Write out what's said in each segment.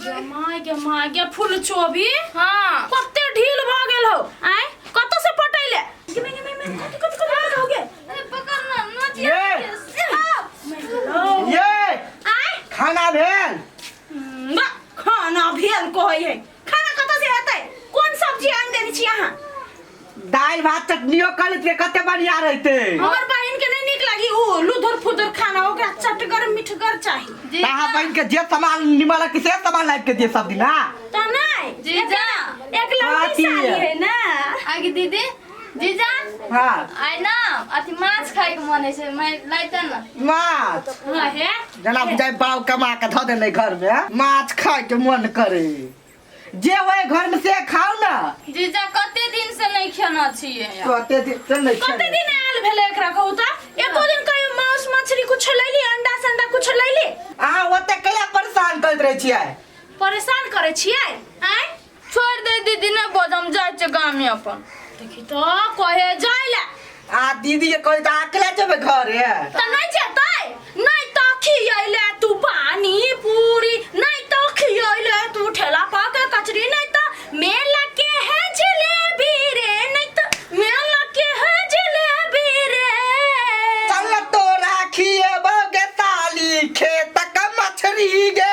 जमाय के माय के फूल चोभी हाँ कते ढील भ गेल हो आय कत से पटैले कि मैं मैं मैं कत कत कत हो गए अरे पकड़ ना नोच ये ये आय खाना भेल हम्म, बा, खाना भेल कहै है खाना कत से हेतै कोन सब्जी आन देने छी अहाँ दालि भात चटनियो कर लेते कते बढ़िया रहते हमर बहिन के नहीं निक लगी उ लुधुर फुधुर खाना ओकरा चटगर मिठगर चाहिए ताहा बहन के जे सामान निमल के से सामान लाइट के दिए सब दिन ना त नहीं जीजा एक लड़की बाती साली है। है ना आगे दीदी जीजा हां आइ ना अथी माछ खाइ के मन छै मैं लाइते ना माछ हां हे जना जाय बाव कमा के धऽ देने घर में माछ खाय के मन करे जे होय घर में से खाओ ना जीजा कते दिन से नहीं खेना छिए कहते दिन से नहीं कते खेले। दिन आयल भेले एकरा कहू त एको दिन कहियो मांस मछली कुछ लैली अंडा संडा कुछ लैली अहाँ ओते कहिया परेशान करत रहे छियै परेशान करे छिए आय छोड़ दे दीदी ने बजम जाय छै गाम में अपन देखी तो कहे जाय ले आ दीदी के कही तो अकेला जेबे घरे त नै जेतै नै त खियैले तू पानी पूरी नै त खियैले तू ठेला पाके कचरी नै त मेला के है जलेबी रे नै त मेला के है जलेबी रे चल तोरा खिएबो गे साली खेत का मछरी गे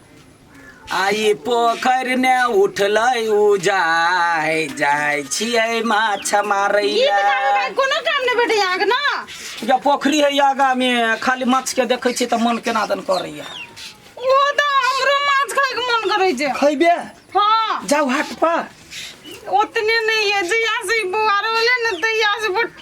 आइ पोखरि ने उठलै उजाय जाइ छियै माछ मारै गीत लए गाबी भाई कोनो काम नहि भेटैया अहाँके ने जब पोखरि है आगा मे खाली माछ के देखै छियै तऽ मन केना दन करैया ओहो तऽ हमरो माछ खायके मन करै छै खैबे हाँ जाओ हाट पर उतने नहीं है जहिया से ई बौआ रोले न तहिया से बुट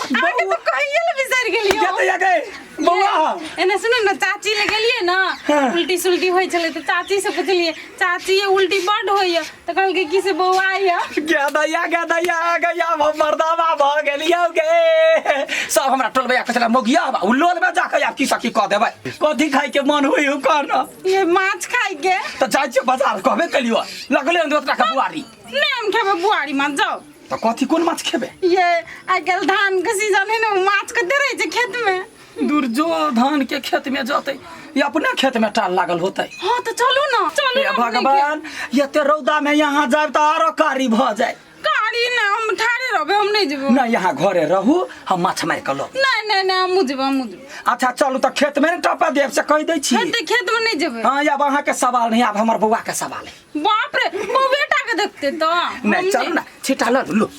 आगे तो कहिए ले बिसर गेलियो क्या तो जाके बौआ हो। एने सुनो न चाची ले गेलिए न हाँ। उल्टी सुल्टी होई छले तो चाची से पूछलिए चाची ये उल्टी बड होइए तो कहल के की से बौआ आइए क्या दैया क्या दैया आ गया हम मर्दावा भ गेलियो गे सब हमरा टोलबैया कसला मोगिया बा उलोल में जाके आप की सकी कह देबै कथी खाइ के मन होई हो कहना ये माछ खाई के तो जाय छियो बाजार कहबे कलियो लगले अंदर तोरा के बुआरी नहीं हम खेबे बुआरी माछ जाओ तो कथी कोन माछ खेबे ये आइ काल्हि धान के सीजन है ना उ माछ कते रहे छै खेत में दूर जो धान के खेत में जते ये अपने खेत में टाल लागल होते हाँ तो चलू ना चलू हे ना भगवान ये ते रौदा में यहाँ जाए तो आरो कारी भ जाए गाड़ी ना हम ठाड़े रहबे हम नहीं जेबो ना यहाँ घरे रहू हम माछ मारि कऽ लऽ नहीं नहीं नहीं हम जेबो हम जेबो अच्छा चलू तऽ खेत में ने टपा देब से कहि दै छी खेत खेत में नहीं जेबे हाँ आब अहाँ के सवाल नहीं आब हमर बौआ के सवाल है बाप रे वो बेटा के देखते तो हम नहीं चलू ना छिटा लऽ लू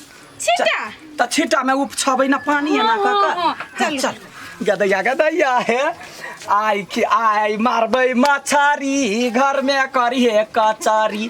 छिटा तऽ छिटा में उप छबै ना पानी एना कऽ हाँ, हाँ, कऽ चलू। चल गदैया गदैया हे आई कि आई मारबै मछरी घर में करिहे कचरी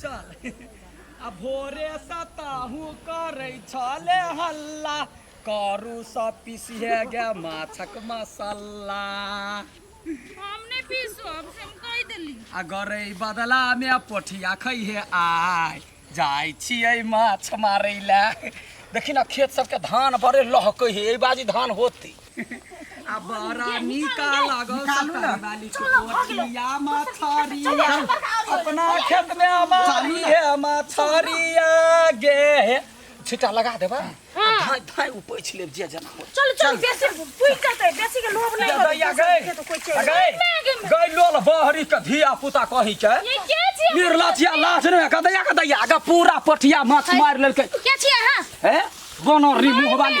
चल आ भोरे से ताहू करै छले हल्ला करू सब पीसिए गे माछक मसाला हम नहीं पीसो अब से हम कह देली आ गरै बदला में पोठिया खैहे आय जाइ छियै माछ मारै लए देखी ना खेत सबके धान बड़े लहकै हे एहि बाजी धान होते आ बड़ा नीक लागल सतरवाली के कोठिया मछरिया अपना खेत में हमारी है मछरिया गे हे छिटा लगा देबा धाय धाय ऊपर छिले जे जना हो चल चल बेसी पुइ करते बेसी के लोभ नहीं दैया गए तो कोई चल गए गए लोल बहरी के धिया पुता कही के ये के छी निर्ला छिया लाश ने का दैया का दैया आगा पूरा पठिया माछ मार लेलके के छी हां हैं बनरी मुंह वाली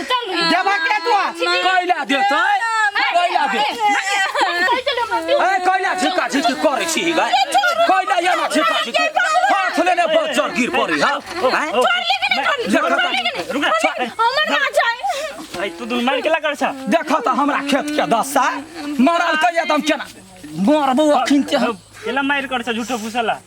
देबा के तो कोइला दे तो कोइला दे ए कोइला झिका झिकी करे छी गा कोइला या ना झिका झिकी हाथ लेने बजर गिर पड़ी हां रुक जा तू दुन मार के लगा छ देखो तो हमरा खेत के दशा मरल कहिया तुम केना मरबो अखिन के हम केला मार कर छ झूठो फुसला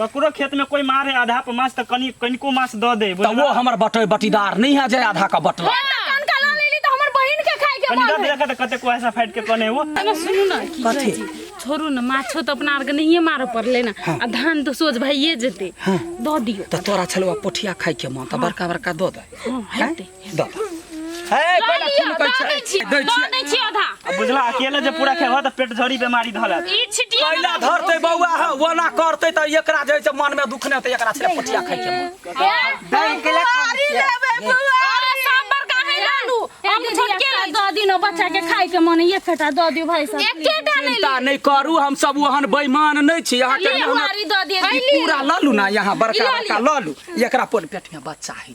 ककरो खेत में कोई मारे आधा पर मास त कनी कनिको मास द दे त वो हमर बटे बटीदार नहीं है जे आधा का बटला हे त कान काला लेली त हमर बहिन के खाए के कनी मन दे है देखा त कते को ऐसा फाइट के कने वो अगर सुनू ना की कथी? कहै छी, छोड़ू ना माछो तो अपना आर के नहिए मारऽ पड़ले ना आ धान तो सोच भइए जेते दऽ दियो त तोरा छलवा पोठिया खाइ के मन त बड़का बड़का दो दे हाँ, हेतै। हे पहिले खून कहै छै दै छियै आ बुझला अकेले जे पूरा खेबह तऽ पेट झड़ी बेमारी धलत कैला धरते बौआ ह ओना करते त एकरा जे छै मन में दुख नै त एकरा छले पटिया खाइ छै बच्चा के खाए के मन एक कटा दऽ दियो भाई साहब एकेटा नहीं चिंता नहीं करू हम सब ओहन बेईमान नहीं छी यहाँ के ये मेहनत हमारी दऽ दियो ई पूरा ललू ना यहाँ बड़का बड़का ललू एकरा पर पेट में बच्चा है